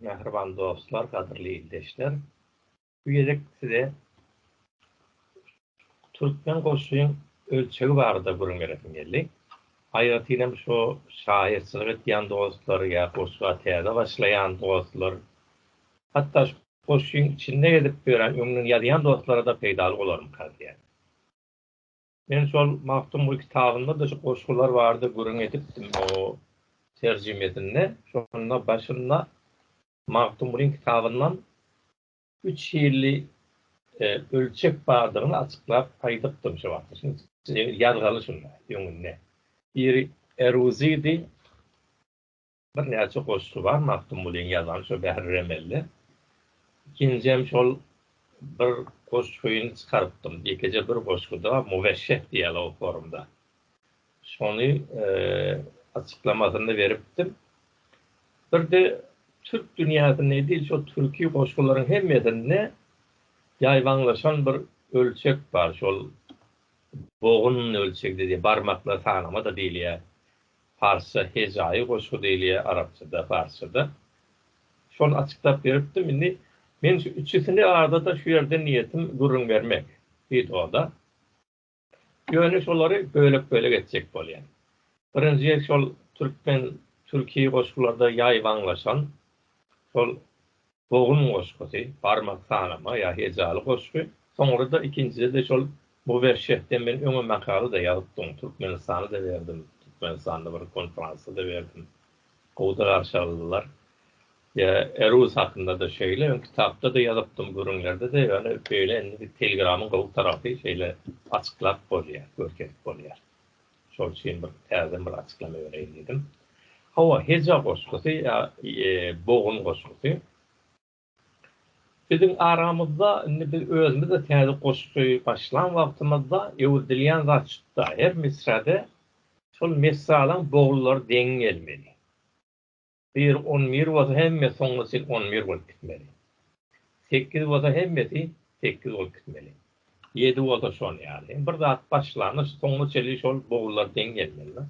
Mähriban dostlar, gadyrly ildeşler! Bu gezek size türkmen goşgyň ölçegi barada gürrüň beresim geldi. Aýratynam şu şahyrçylyk edýän dostlar ýa goşga täze başlaýan dostlar, hatda şu goşgyň içinde gezip ýören, öňünden ýazýan dostlara-da peýdaly bolarmyka diýýän. Men şol Magtymguly kitabynda-da şu goşgular barada gürrüň edipdim o terjimesinde. Şonda başynda Magtymgulyň kitabyndan üç hilli ölçek bardygyny açyklap aýdypdym şo wagt. Ýazgaly şunda, öňünde. Biri eruzidi, Birnäçe goşgy bar Magtymgulyň ýazan şo Bähri Remelde. Ikinjem şol bir goşgyny çykarypdym. Ýekeje bir goşguda Müweşşeh diýýärler o forumda. Şony açyklamasyny beripdim. Birde türk dünýäsinde edil şo türki goşgularyň hemmesinde ýaýbaňlaşan bir ölçek bar. Şol bogun ölçegi diýip barmaklar sanama-da diýilýär. Parsça hejaýy goşgy diýilýär, arapçada, parsçada. Şony açyklap beripdim. Indi men şu üçüsini arada-da şu ýerde niýetim gürrüň bermek wideoda. Ýöne şolary bölek-bölek etjek bolýan. Birinji şol türkmen-türki goşgularda ýaýbaňlaşan şol Bogum goşgusy, barmak sanama ýa hejaly goşgy, soňra-da ikinjide-de şol Muwerşehden men öňe makala-da ýazypdym, Türkmenistana-da berdim, Türkmenistanda bir konferansda-da berdim. Gowy-da garşy aldylar. Ýa Eruz hakynda-da şeýle, öň kitapda-da ýazypdym, gürrüňlerde-de, ýöne beýle indi Telegramyň gowy tarapy şeýle açyklap bolýar, görkezip bolýar. Şol üçin bir täzeden bir açyklama bereýin diýdim. Hawa, heja goşgusy ýa bogun goşgusy. Biziň aramyzda indi biz özümiz-de täze goşgy başlan wagtymyzda öwredilýän zat şutda, her misrada şol misralaň boglary deň gelmeli. Bir on bir bolsa hemmesi soňra sen on bir bolup gitmeli. Sekiz bolsa hemmesi sekiz bolup gitmeli. Ýedi bolsa şol ýaly. Bir zat başlanda soňuna çenli şol bogullar deň gelmeli-de.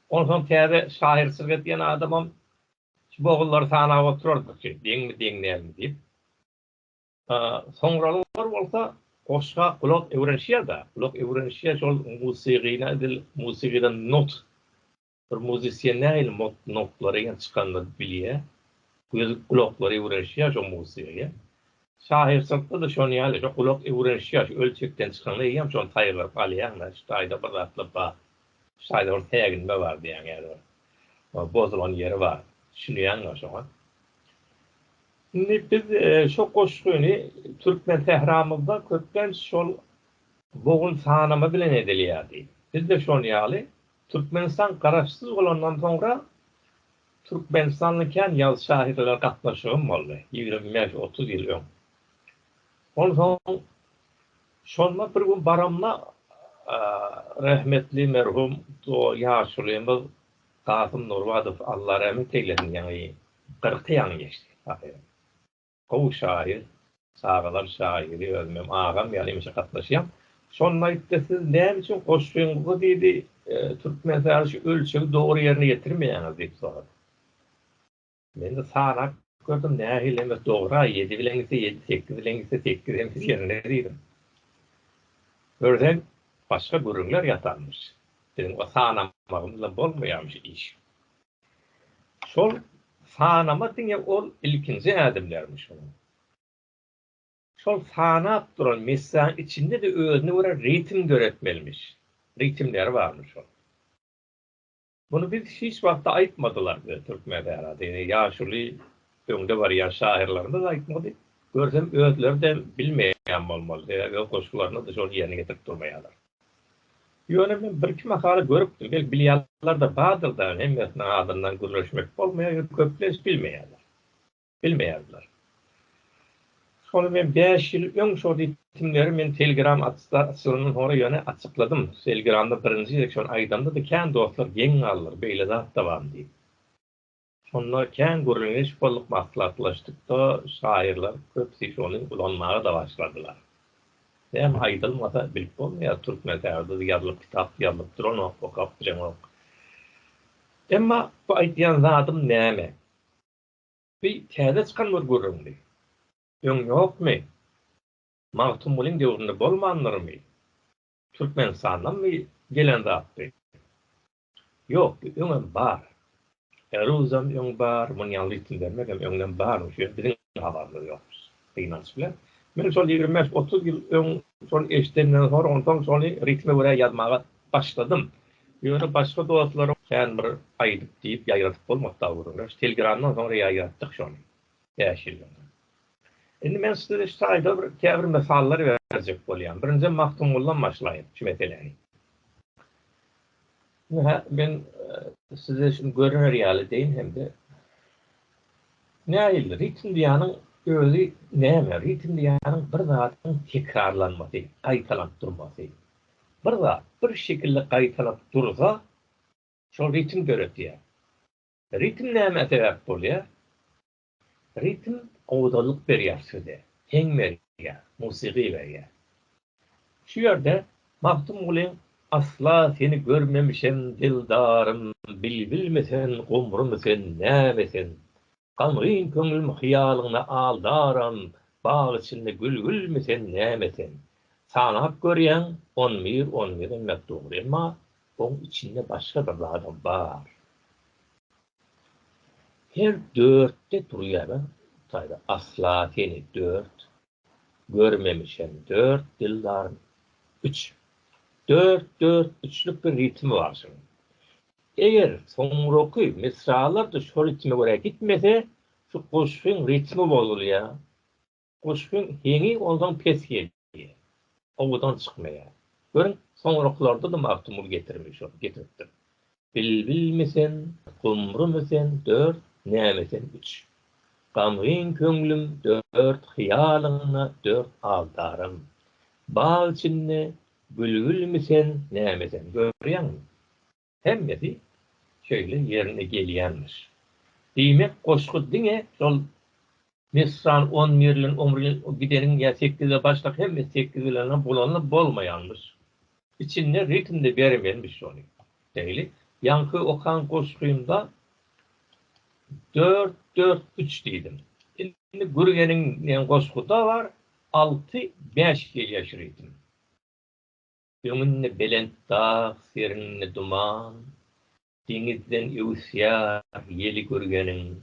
Onsoň täze şahyr çyryk edýän adamam şu bogullary sanap oturardyk ki, deňmi, deň dälmi diýip. Soňralar bolsa goşga gulak öwrenişýär-de. Gulak öwrenişýär şol musygyna edil musygydan not Bir muzysyen nähili notlara gelip çykanda bilýär, gözi gulaklary öwrenişýär şo muzysýa ýa. Şahyrçylykda-da şon ýaly, şo gulak öwrenişýär, şu ölçekden çykanda eýýäm şony saýgaryp alýaň-da, şu taýda bir zatlar bar, şu taýda bir säginme bar diýýäň ýa-da bir bozulan ýeri bar, düşünýäň-ä şoňa. Indi biz şo goşgyny türkmen sähramyzda köplenç şol bogun sanama bilen edilýärdi. Biz-de şon ýaly Türkmenistan garaşsyz bolandan soňra Türkmenistanly kän ýazyjy şahyrlara gatnaşygym boldy, ýigrimi bäş, otuz ýyl öň. Onsoň şonda bir gün baramda rahmetli merhum ýaşulymyz Kasym Nurbadow Alla rahmet eýlesin ýaňy kyrky ýaňy geçdi. Gowy şaýyr, çagalar şaýyry, özümem agam ýaly hemişe gatnaşýan. Şonda aýtdy, siz näme üçin goşgyňyzda diýdi, türkmen sazy şu ölçegi dogry ýerine ýetirmeýäňiz diýip sorady. Men-de sanap gördüm, nähili hemes dogry-a, ýedi bilen gitse ýedi, sekiz bilen gitse sekiz hemes ýerinde diýdim. Görsem, başga gürrüňler ýatanmyş. Biziň o sanamagymyzla bolmaýarmyş iş. Şol sanama diňe ol ilkinji ädimlermiş şonuň. Şol sanap duran messäň içinde-de özüne görä ritm döretmelimiş. Ritmleri barmyş şol. Muny biz hiç wagtda aýtmadylar bize türkmen Sährasy. Ýöne ýaşuly öňde barýan şahyrlarymyz aýtmady. Görsem özleri-de bilmeýän bolmaly. Sebäbi öz goşgularyna-da şony ýerine getirip durmaýarlar. Ýöne men birki makala görüpdim, belki bilýänler-de bardyr-da, hemmesiniň adyndan gürleşmek bolmaýar, ýöne köplenç bilmeýärler. Bilmeýärdiler. Şony men bäş ýyl öň şo ritimleri men Telegram açylyndan soňra ýöne açykladym. Telegramda birinji gezek şony aýdamda-da kän dostlar geň galdylar, beýle zat-da barmy diýip. Şonda kän gürrüňiş bolup maslahatlaşdykda şaýyrlar köpüsi şony ulanmaga-da başladylar. Näme aýdylmasa bilip bolmaýar türkmen sazdyz ýazylyp kitap ýazylyp duranok okap bilenok. Emma bu aýdýan zadym näme? Bi täze çykan bir gürrüňmi? Öň ýokmy? Magtymgulyň döwründe bolmandyrmy? Türkmenistandanmy gelen zatdy? Ýok, bu öňem bar. Eruzam öň bar, muny ýaňy ritm bermegem öňden bar, muny şu biziň habarymyz ýok gynanç bilen. Men şol ýigrimi bäş, otuz ýyl öň şony eşidenden soň, onsoň şony ritme görä ýazmaga başladym. Ýöne başga dostlaryň kän bir aýdyp diýip ýaýradyp bolmady dagy görüň. Telegramdan soňra ýaýratdyk şony, bäş ýyl öň. Indi men size şu taýda bir käbir mysallar berjek bolýan. Birinjiden Magtymguldan başlaýyn şu meseläni. Ine, men size şuny görner ýaly deýin hem-de nähili ritm diýýäniň özi näme? Ritm diýýäniň bir zadyň tekrarlanmasy, gaýtalanyp durmasy. Bir zat bir şekilde gaýtalanyp dursa, şol ritm döredýär. Ritm nämä sebäp bolýar? Ritm gowudanlyk berýär söze, heň berýär, musygy berýär. Şu ýerde Magtymgulyň Asla seni görmemişem dildarym, Bilbilmi sen, gomrumy sen, näme sen? Gamgyn köňlüm hyýalyňda aldaram, Bag içinde gülgülmi sen, näme sen? Sanap görýäň, on bir, on bir, emma dogry, emma oň içinde başga bir zadam bar. Her dörtde durýana taýda asla seni dört görmemişem dört dildarym üç dört dört üçlük bir ritmi bar şunuň eger soňraky misralarda şo ritme görä gitmese şu goşgyň ritmi bozulýa Goşgyň heňi ondan pes gelýär. Owadan çykmaýar. Görüň, soňraklarda-da Magtymguly getirmeli şony, getiripdir. Bilbilmi sen, gumrumy sen, dört, näme sen, üç. Gamgyn köňlüm, dört, hyýalyňda, dört, aldarym. Bag içinde, bülbülmi sen, näme sen, görýäňmi? Hemmesi şeýle ýerine gelýänmiş. Diýmek goşgy diňe şol Misran on birlen omrine gideniň ýa sekize başlap hemmesi sekiz bilenam bolanda bolmaýanmyş. Içinde ritmde bermelmiş şony. Şeýle ýaňky okan goşgymda dört dört üç diýdim. Indi gürgeniň diýen goşguda bar alty bäş gelýär şu ritm. Öňünde belent dag, serinde duman, Deňizden öwüsýär ýeli görgeniň.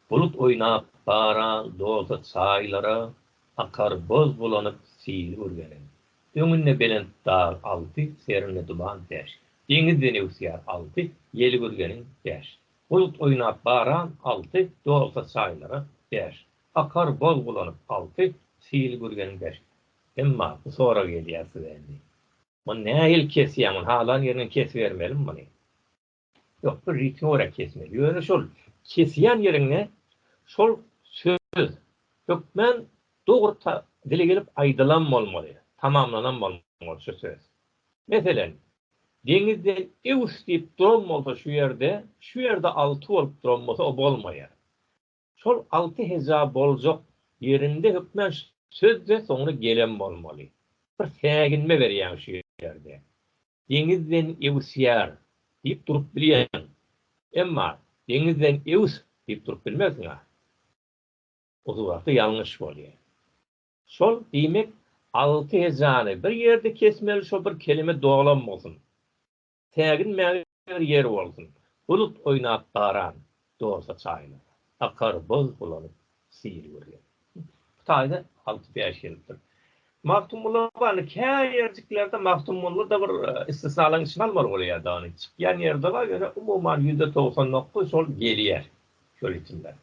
Bulut oýnap baran doza çaýlara, Akar boz bulanyp syýry görgeniň. Öňünde belent dag, alty, serinde duman, bäş, Deňizden öwüsýär, alty, ýeli görgeniň, bäş, Bulut oýnap baran, alty, doza çaýlara, bäş, Akar boz bulanyp, alty, syýry görgeniň, bäş, Emma bu sorag gelýär size indi. Muny nähili kesýäň, muny halan ýerinden kesibermelimi muny? Ýok, bir ritme görä kesmeli. Ýöne şol kesýän ýeriňde şol söz hökmän dogry ta dile gelip aýdylan bolmaly, tamamlanan bolmaly şu söz. Meselen, deňizden ews diýip duran bolsa şu ýerde, şu ýerde alty bolup duran bolsa o bolmaýar. Şol alty heja boljak ýerinde hökmän söz-de soňra gelen bolmaly. Bir säginme berýäň şu ýerde. Deňizden öwüsýär diýip durup bilýäň. Emma deňizden öwüs diýip durup bilmersiň-ä. Usugaty ýalňyş bolýar. Şol, diýmek, alty hejany bir ýerde kesmeli şo bir kelime dolam bolsun. Tägin mäger ýer bolsun. Bulut oýnap baran dorsa çaýyna. Akar boz bulanyp syry görýän. Bu taýda alty bäş gelipdir. Magtymgulla bany käýerjiklerde Magtymgulla-da bir istisnalaryň içine almaly bolýar dagyn. Çykýan ýerde bar ýöne umuman ýüzde togsan dokuz şol gelýär şo ritmlere.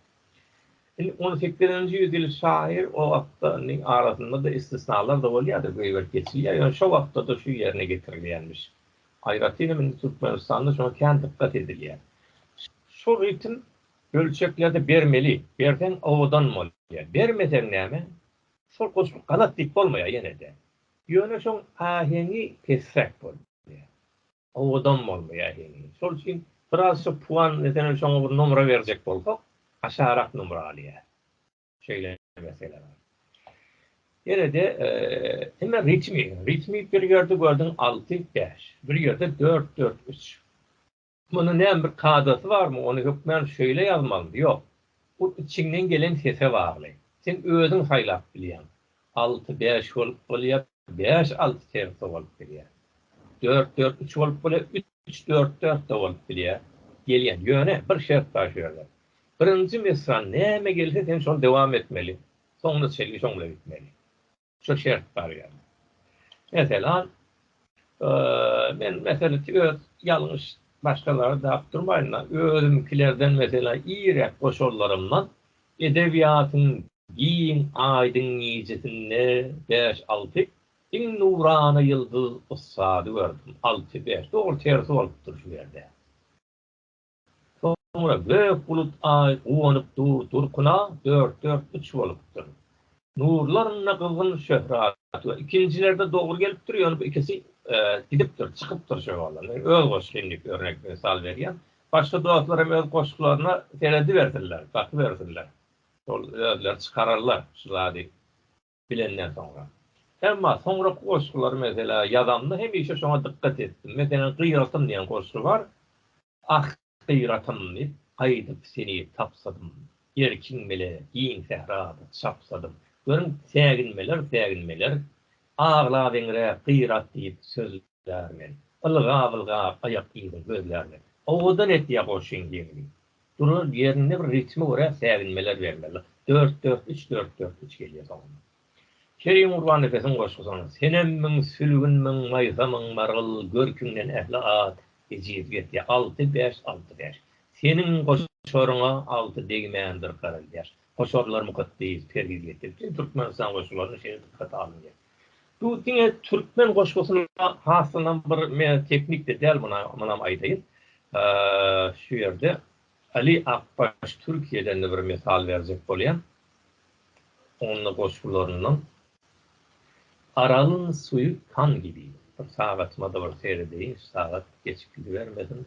Indi on sekizinji ýüz ýyl şaýyr o wagtda indi arasynda-da istisnalar-da bolýar-da, göýberip geçilýär, ýöne şo wagtda-da şu ýerine getirilýärmiş. Aýratynam indi Türkmenistanda şoňa kän dykgat edilýär. Şu ritm ölçeklerde bermeli, berseň owadan bolýar. Bermeseň näme, şol goşgy galat diýip bolmaýar ýene-de. Ýöne şoň aheňi pesräk bolýar. Owadan boldy ýa heniz. Şol üçin biraz şu puan meselem şoňa bir nomra berjek bolsak aşarak nomra alýar. Şeýle mesele bar. Ýene-de hemme ritmi, ritmi bir ýerde gördüň alty, bäş, bir ýerde dört, dört, üç. Munuň näme bir kadasy barmy, ony hökmän şeýle ýazmalymy, ýok. Bu içiňden gelen sese bagly. Sen özüň saýlap bilýäň. Alty, bäş bolup bolýar, Bäş-alty tersa bolup bilýär. Dört-dört üç bolup bilýär, üç dört-dört-de bolup bilýär. Gelýän. Ýöne, bir şert bar şu ýerde. Birinji misran näme gelse sen şony dowam etmeli. Soňuna çenli şoň bilen gitmeli. Şu şert bar ýa-da. Meselem, men meselem ki öz ýalňyş başgalary dap durmaýyn-da, özümkilerden meselem iýräk goşarlarymdan edebiýatyň Giň aýdyň gijesinde bäş-alty iň nurana ýyldyz ussady gördüm. Alty, bäş, dogry tersi bolupdyr şu ýerde. Soňra gök bulut aý guwanyp dur durkuna dört, dört, üç bolupdyr. Nurlarynda gyzgyn şöhrat we ikinjilerde dogry gelipdir, ýöne bu ikisi gidipdir, çykypdyr şo ýola. Men öz goşgy indik örnek, mysal berýän. Başga dostlar hem öz goşgularyna seredibersinler, bakybersinler. Ol özleri çykararlar şu zady bilenden soňra. Emma soňraky goşgulary meselä ýazamda hemişe şoňa dykgat etdim. Meselem, Gyratym diýen goşgy bar. Ah, gyratym diýip, gaýdyp seni tapsadym. Erkiň bile giň sährada çapsadym. Görüň, säginmeler, säginmeler. Aglabeňräk gyrat diýip söz Ýar men. Ylgaw-ylgaw aýak yzyň gözlär men. Owadan etýä goşgyň ýeňini. Durar ýerinde bir ritme görä säginmeler bermeli. Dört-dört, üç-dört, dört, üç gelýä soňundan. Kerim Gurbannepesiň goşgusy onuň. Senem müň, sülgün müň, maýsa müň, margyl, görküňden ähli at ejiz getýä. Alty-bäş, alty-bäş. Seniň goşaryňa alty degmändir garylýaş. Goşarlar mukaddes, perhiz getiriji, türkmenistan goşgularyna şeýle dykgata alyndy. Bu diňe türkmen goşgusyna haslanam bir teknikde däl munam aýdaýyn. Şu ýerde Ali Akbaş Türkiýeden-de bir mysal berjek bolýan. Onda goşgularyndan Aralyň suýy kan gibi. Bir sagatyma-da bir seredeýin, şu sagat geç gidibermesin.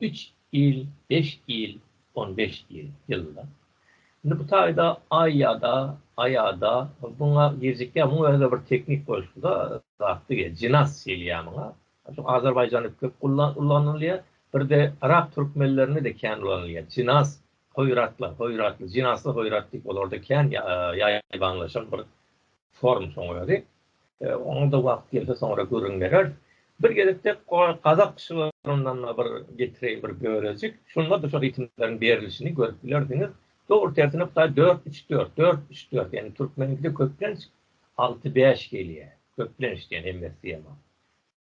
Üç ýyl, beş ýyl, on beş ýyl, ýylda. Indi bu taýda aý ýa-da aýada muňa girjekýär. Muň özi-de bir teknik bolşuda zat diýýär. Jinas diýilýär muňa. Şu Azerbaýjanda köp ullanylýar. Bir-de yrak türkmenlerinde-de kän ulanylýar. Jinas, hoýratlar, hoýratly, jinasly hoýrat diýip olarda kän ýaýbaňlaşan bir Forumsyň özi. Oňa-da wagt gelse soňra gürrüň bereris. Bir gezekde gazak şygyryndan-da bir getireýin bir bölejik. Şunda-da şo ritimleriň berilişini görüp bilersiňiz. Dogry tersine Hudaý dört, üç, dört, dört, üç, dört. Ýagny türkmeniňkide köplenç alty, bäş gelýär. Köplenç diýen hemmesi diýemok.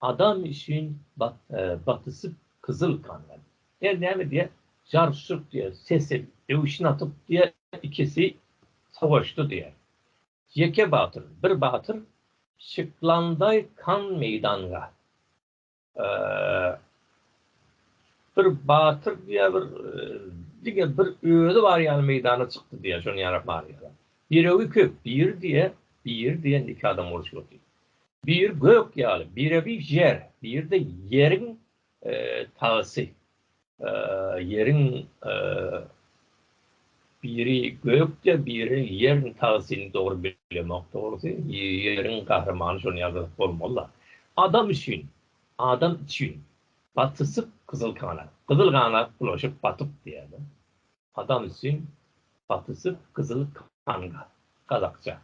Adam üçin batyşyp gyzyl kanlar. Her näme diýer jarşyp diýer sesi öwşün atyp diýer ikisi sowaşdy diýer. Ýeke batyr bir batyr şyklandaý kan meýdanga. Bir batyr diýer bir diňe bir özi bar ýaly meýdana çykdy diýer şony ýarap barýar. Ýüregi köp bir diýer bir diýen iki adam urşyp otyr. Biri gök ýaly, birebi ýer, biri-de ýeriň tagsy. Ýeriň biri gökde, biri ýeriň tagsyny dogry bilemok dogrusy. Ýeriň gahrymany şony ýazyp bolmaly-la. Adam üçin, adam üçin batyşyk gyzyl ganat, gyzyl ganat bulaşyp batyp diýýär-de. Adam üçin gaty süp gyzyl kanga, gazakça.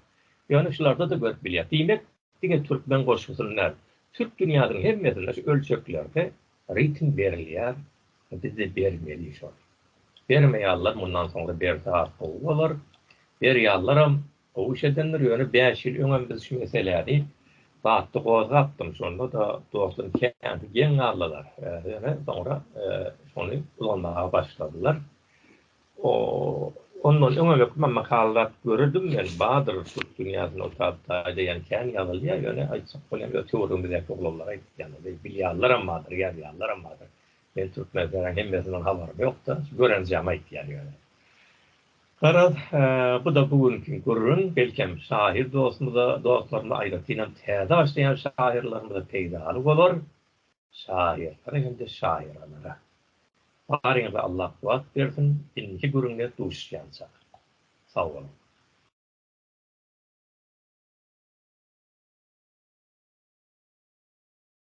Ýöne şularda-da görüp bilýär. Diýmek, diňe türkmen goşgusyny däl, türk dünýäsiniň hemmesinde şu ölçeklerde ritm berilýär, bizde bermeli şol. Bermeýärler, mundan soňra berse has gowy bolar. Berýärleram, Gowy iş edendir ýöne bäş ýyl öňem biz şu meseläni batly gozgapdym şonda-da dostum känti geň galdylar ýöne soňra şony ulanmaga başladylar ondan öňem öküma makallat görürdüm men badyr türk dünýäsinde otap daýdaýan kän ýazylýar ýöne aýtsak bolýan öte görümizdäki oglanlar aýtýanady bilýanlaram bardyr ýazýanlaram bardyr men türkmen sären hemmesinden habarym ýokda görenjämi aýtýan ýöne. Garaz, bu-da bu günki gürrüň, belkem, şahyr dostumyza, dostlarymyza, aýratynam täze başlaýan şahyrlarymyza peýdaly bolar. Şahyrlara hem-de şaýyralara baryňyza Allah kuwwat bersin, indiki gürrüňde duşuşýança sag boluň!